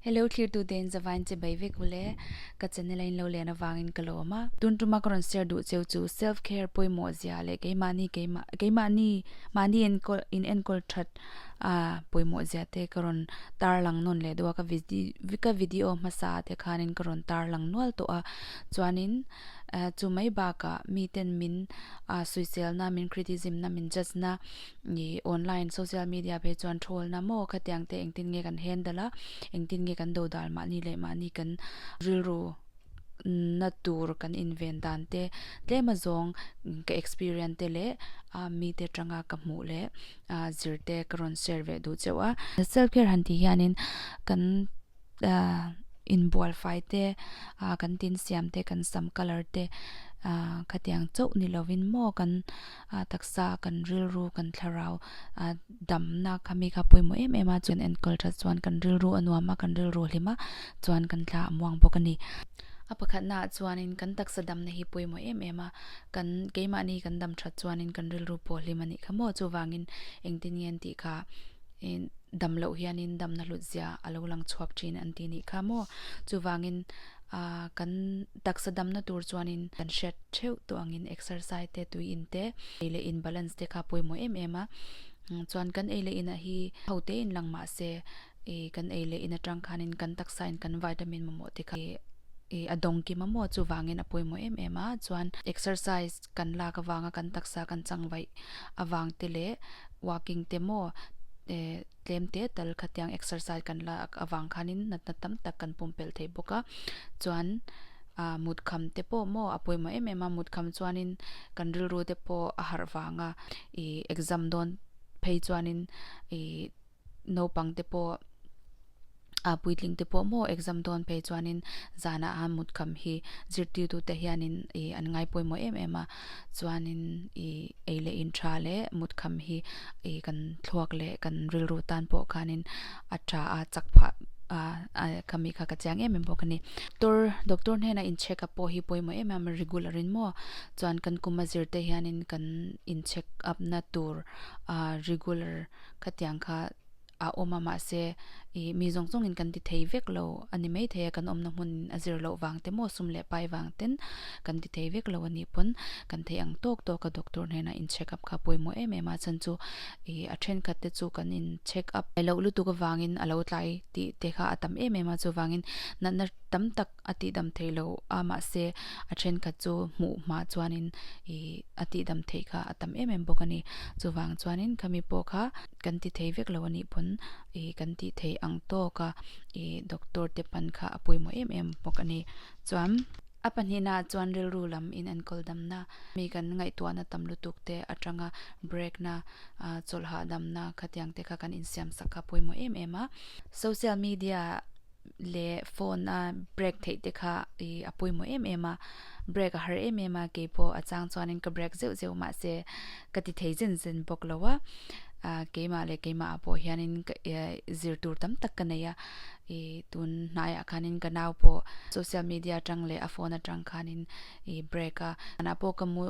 Hello thlirtu te in zavai in che bai vek u le, ka channel a in lo len avang in ka lo awm a, tun tuma ka rawn share duh cheu chu self care pawimawh zia leh keimahni keimah keimahni mahni in enkawl in enkawl that a pawimawh zia te ka rawn tar lang nawn leh deuh a, ka vidi ka video hmasa ah te khan in ka rawn tar lang nual tawh a, chuan in chu mai bak ah mi ten min suihchel na min criticism na min judge na Ih online social media vei chuan ṭhawlna maw khatiang te engtin nge kan handle a, engtin nge kan do dal mahni leh mahni kan rilru na tur kan inven dan te tlema zawng ka experience te leh mite ṭanga ka hmuh leh zirte ka rawn share ve duh cheuh a. Self care han tih hianin kan inbualfai te, kan tinsiam te, kan sam color te khatiang chauh ni lovin maw kan. a taksa kan rilru kan thlarau a damna kami kha pawimawh em em a, chuan enkawl tha chuan kan rilru a nuam a, kan rilru hlim a, chuan kan thla a muang bawk a ni. A pakhatna ah chuanin kan taksa damna hi pawimawh em em a, kan keimahni kan dam that chuanin kan rilru pawh hlim a nih kha maw, chuvangin engtin nge an tih kha i dam loh hianin damna hlut zia a lo lang chhuak thin an ti nih kha maw, chuvangin a kan. Taksa damna tur chuanin kan hriat theuh tawh angin exercise te, tui in te, ei leh in balance te kha pawimawh em em a. Chuan kan ei leh inah hi ho tein lang mahse kan ei leh in atang khanin kan taksa in kan vitamin mamawh te kha i a dawng ki mamawh chuvangin a pawimawh em em a. Chuan exercise kan lak avanga kan taksa kan changvaih avang te leh walking te maw e. Tlem te tal khatiang exercise kan la ak avang khanin natna tam tak kan pumpelh thei bawk a, chuan ah mutkham te pawh maw a pawimawh em em a, mutkham chuanin kan rilru te pawh a harh vang a, ih exam dawn phei chuanin ih naupang te pawh a puitling te pawh maw exam dawn phei chuanin zanah a mut kham hi zirtirtu te hianin i an ngai pawimawh em em a chuanin i ei leh in tha leh mut kham hi i kan thluak leh kan rilru tan pawh khanin a tha a chak phah a khami kha ka chiang em em bawk a ni doctor doctor hnena in check up pawh hi pawimawh em em a regular in maw chuan kan kum a zir te hianin kan in check up na tur a regular khatiang kha a awm a mahse i mi zawng zawngin kan ti thei vek lo a ni maithei a, kan awmna hmun a zir loh vang te maw sum leh pai vang ten kan ti thei vek lo a nih pawn kan theih ang tawk tawk a doctor hnenah in check up kha pawimawh em em a chan chu i a thenkhat te chu kan in check up loh lutuk avangin a lo tlai tih te kha a tam em em a chuvangin natna tam tak a tih dam thei lo a, mahse a thenkhat chu hmuh mah chuanin ih a tih dam theih kha a tam em em bawk a ni. Chuvang chuanin khami pawh kha kan ti thei vek lo a nih pawn ih kan tih thei ang tawk a, ih doctor te pan kha a pawimawh em em bawk a ni. Chuan a pahnihna chuan rilru lam in an kawldamna, mi kan ngaihtuahna tam lutuk te atanga break na, ah chawlh hahdamna khatiang te kha kan insiam sak kha a pawimawh em em a. Social media leh phone a break theih te kha ih a pawimawh em em a break a har em em a keipawh a chang chuanin ka break zeuh zeuh mahse ka ti thei zen zen bawk lo a ah keimah leh keimah ah pawh hianin ka eh zir tur tam tak ka nei a ih tun hnaiah khanin ka nau pawh social media atang leh a phone atang khanin ih break a tunah pawh ka mu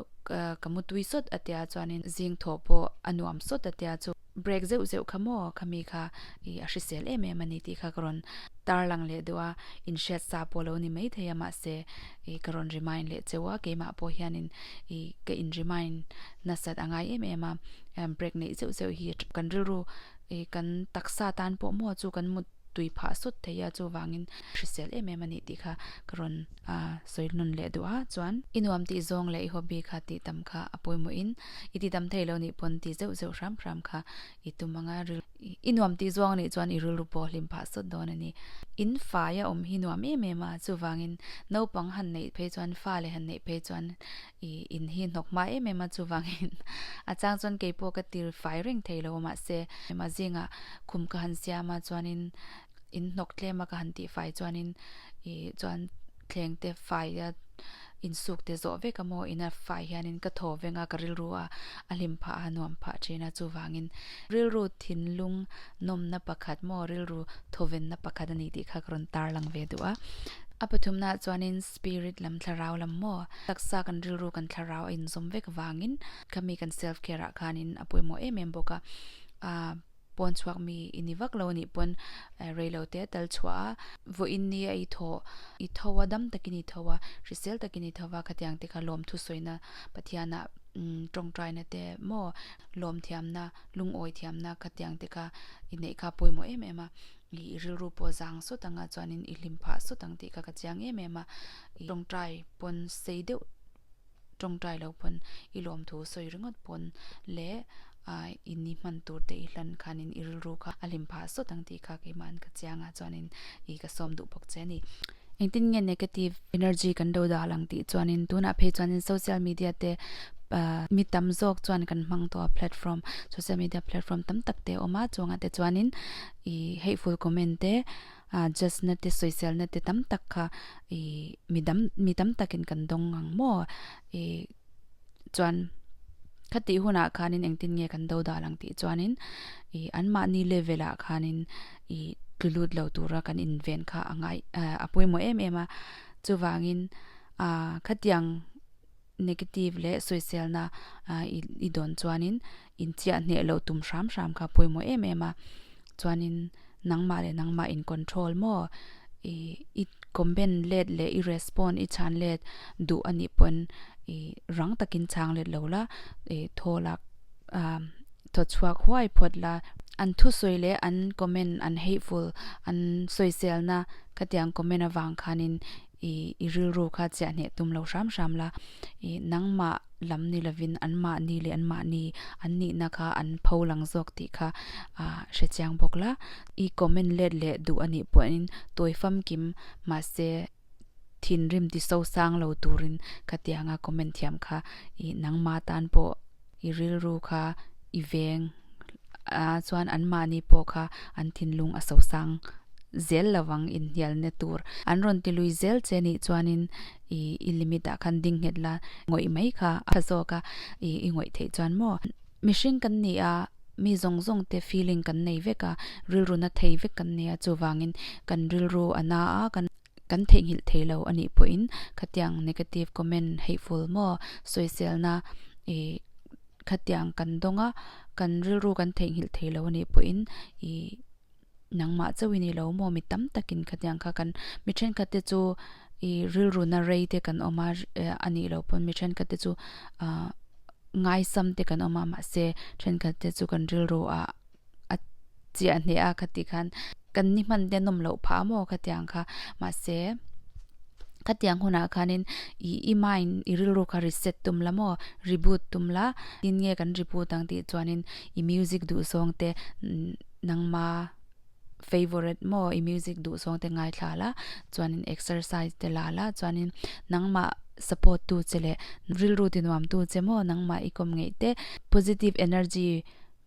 ka mu tui sawt a tia chuanin zing thawh pawh a nuam sawt a tia chu-- Break zeuh zeuh kha maw ka mi kha ih a hrisel em em a ni tih kha ka rawn tarlang leh duh a, in hriat sa pawh lo ni maithei a mahse ih ka rawn remind leh cheu a, keimah pawh hian in ih ka in remind nasat a ngai em em a, break neih zeuh zeuh hi kan rilru ih kan taksa tan pawh maw chu kan mut. tui phah sawt theih a, chuvangin hrisel em em a nih tih kha ka rawn sawihnun leh duh a, chuan i nuam tih zawng leh i hobby kha tih tam kha a pawimawhin i tihtam thei lo nih pawn tih zeuh zeuh hram hram kha i tum ang a, i nuam tih zawng a nih chuan i rilru pawh hlim phah sawt dawn a ni. In fai a awm hi nuam em em a, chuvangin naupang han neih phei chuan fa leh han neih phei chuan I in hi hnawk hma em em a, chuvangin a chang chuan kei pawh ka tir fai reng thei lo, mahse engmah zinga khum ka han siam a chuanin in hnawk tlem a ka han tih fai chuanin i chuan thleng te fai a insuk te zawh vek a maw in a fai hianin ka thaw veng a ka rilru a a hlim phah a a nuam phah thin a chuvangin rilru thinlung nawmna pakhat maw rilru thawvenna pakhat a ni tih kha ka rawn tarlang ve duh a. A pathumna ah chuanin Spirit lam thlarau lam maw? Taksa kan rilru kan thlarau a inzawm vek vangin khami kan self care ah khanin a pawimawh em em bawk a, a pawn chhuak mi i ni vak lo nih pawn reilo te a tal chhuah a, vawi in nia i tho i tho a dam takin i tho a hrisel takin i tho va khatiang te kha lawmthu sawina Pathiana tawngtai na te maw lawmthiamna lungawi thiamna khatiang te kha i neih kha a pawimawh em em a. I rilru pawh zang sawt anga chuanin i hlim phah sawt ang tih kha ka chiang em em a, i tawngtai pawn sei deuh tawngtai lo pawn i lawmthu sawi ringawt pawn leh i ni hman tur te i hlan khanin i rilru kha a hlim phah sawt ang tih kha keimah an ka chiang a chuanin i ka sawm duh bawk che a ni. Engtin nge negative energy kan do dah lang tih chuanin tunah phei chuanin social media te mi tam zawk chuan kan hmang tawh a platform social media platform tam tak te awm a chuanga te chuanin I hateful comment te, judge na te, sawisel na te tam tak kha I mi dam mi tam tak in kan dawng ang maw I chuan kha tih hun ah khan in eng tin nge kan do dah lang tih chuan in I an mahni level ah khan in I tlu lut lo tur a kan inven kha a ngai a pawimawh em em a chuvang in khatiang negative leh sawisel na I dawn chuan in inchiah hneh loh tum hram hram kha a pawimawh em em a, chuanin nangmah leh nangmah in control maw ih i comment let leh i respond i chhan let duh a nih pawhin ih rang takin chhang let lo la ih thaw lak ah thaw chhuak huai phawt la an thusawi leh an comment an hateful an sawisel na khatiang comment avang khanin I i rilru kha chiah hneh tum lo hram hram la, i nangmah lam ni lovin anmah ni leh anmah ni an nihna kha an pho lang zawk tih kha a hre chiang bawk la, i comment let leh duh anih pawhin tawi famkim mahse thinrim ti sosang lo turin ka tianga comment thiam kha i nangma tan pawh i rilru kha i veng a chuan an mahni pawh kha an thinlung a so sang zel lo vang inhnial na tur an rawn ti lui zel che nih chuanin i i limit ah khan ding nghet la ngawih mai kha a tha zawk a i i ngawih theih chuan maw mihring kan ni a mi zawng zawng te feeling kan nei vek a rilru na thei vek kan nia chuvangin kan rilru a na a kan kan theihnghilh thei lo anih pawhin khatiang negative comment hateful maw sawiselna ih khatiang kan dawng a kan rilru kan theihnghilh thei lo anih pawhin ih nangmah chauh i neilo maw mi tam takin khatiang kha kan mi thenkhat te chu ih rilru na rei te kan awm a anih loh pawn mi thenkhat te chu ah ngaisam te kan awm a mahse thenkhat te chu kan rilru ah-- a chiah hneh a khati khan kan ni hman te nawm loh phah maw ka tiang kha mahse ka tiang hunah khanin ih i mind i rilru kha reset tum la maw reboot tum la tin nge kan reboot ang tih chuanin i music duhsawng te nangma favourite maw i music duhsawng te ngaithla la chuanin exercise te la la chuanin nangmah support tu che leh rilru tinuam tu che maw nangmah i kawm ngeih te positive energy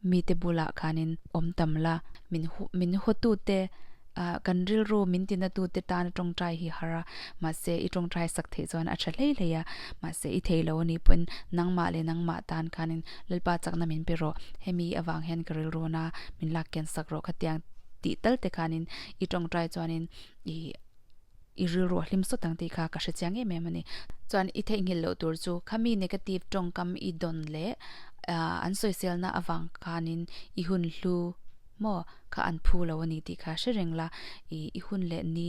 Mite bulah khanin awm tam la, min min hawtute, kan rilru min tinatute tana tawngtai hi har a, mahse i tawngtai sak theih chuan a tha hlei hlei a, mahse i theilo a nih pawhin nangmah leh nangmah tan khanin Lalpa chakna min pe rawh, hemi avang hian ka rilru na min lakkian sak rawh khatiang tih talte khanin i tawngtai chuanin ih. i rilruah hlim sawt ang tih kha ka hre chiang em em a ni. Chuan i theihnghilh loh tur chu khami negative tawngkam i dawn leh an sawiselna avang khanin i hun hlu maw kha an phu lo a ni tih kha hre reng la, i hun leh ni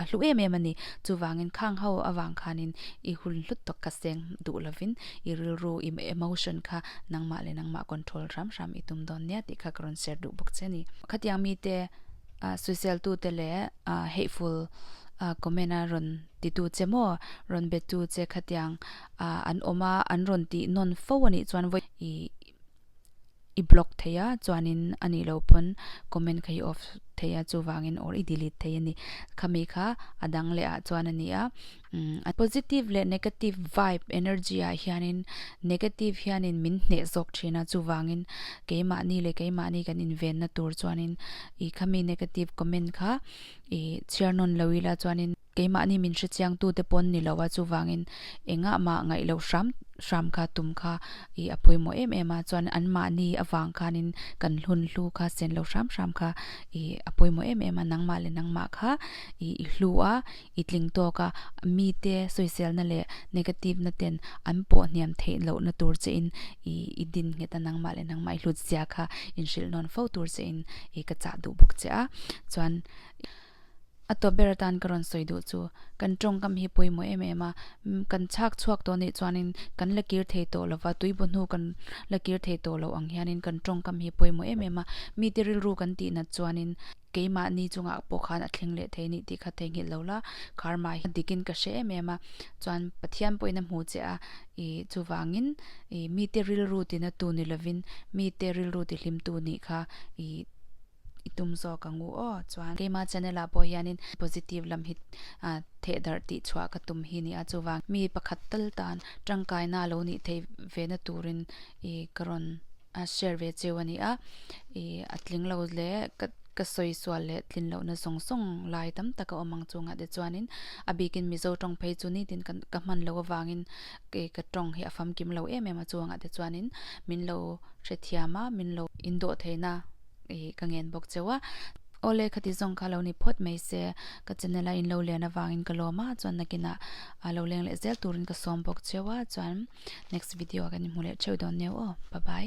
a hlu em em a ni. Chuvangin khang ho avang khanin i hun hlut tawk kha seng duh lovin i rilru i emotion kha nangmah leh nangmah control hram hram i tum dawn nia tih kha ka rawn share duh bawk che a ni. Khatiang mite. Suiseltute leh hateful comment a rawn titu che maw, rawn bettu che khatiang an awm a, an rawn tih nawn fo a nih chuan vawi i block thei a, chuanin a nih loh pawn comment kha i off thei a, chuvangin or i delete thei a ni. Khami kha a dang leh ah chuan a ni a. A positive leh negative vibe, energy ah hianin negative hianin min hneh zawk thin a, chuvangin keimahni leh keimahni kan invenna tur chuanin i khami negative comment kha i chhiar nawn lo ila chuanin keimahni min hrechiangtu te pawn ni lo a, chuvangin engahmah ngaih loh hram hram kha tum kha i a pawimawh em em a, chuan anmahni avang khanin kan hlun hlu kha senlo hram hram kha i a pawimawh em em a, nangmah leh nangmah kha i i hlu a, i tling tawk a, mite sawiselna leh negative-na ten an pawh hniam theih lohna tur che in i din nghet a, nangmah leh nangmah i hlut zia kha inhrilh nawn fo tur che in ka chah duh bawk che a. Chuan a tawp ber atan ka rawn sawi duh chu, kan tawngkam hi pawimawh em em a, kan chhak chhuak tawh nih chuanin kan la kir thei tawh lova, tuibaw hnu kan la kir thei tawh loh ang hianin kan tawngkam hi pawimawh em em a, mite rilru kan tih nat chuanin, Keimah ni chungah pawh khan a thleng leh thei anih tih kha theihnghilh lo la, karma hi dikin ka hre em em a, chuan Pathian pawhin a hmuh che a, i chuvangin i mite rilru ti na tu ni lovin mite rilru ti hlim tu nih kha i i tum zawk ang u aw, chuan keima channel ah pawh hianin positive lam hi a theh darh tih chhuah ka tum hi ni a, chuvang mi pakhat tal tan tangkaina a lo nih theih ve na turin i ka rawn. a share ve cheu a nia ih a tling lo leh ka ka sawi sual leh tlin loh na zawng zawng lai tam tak a awm ang chungah te chuanin a bikin mizo tawng phei chu ni tin ka ka hman loh avangin ih ka tawng hi a famkim lo em em a chungah te chuanin min lo hrethiam a min lo indawh theihna ih ka ngen bawk cheu a. Awle, ka ti zawng kha lo ni phawt mai se, ka channel a in lo lian avangin ka lawm a, chuan nakin ah a lo leng leh zel turin ka sawm bawk cheu a, chuan next video ah kan inhmu leh theuh dawn neu aw, pa bai.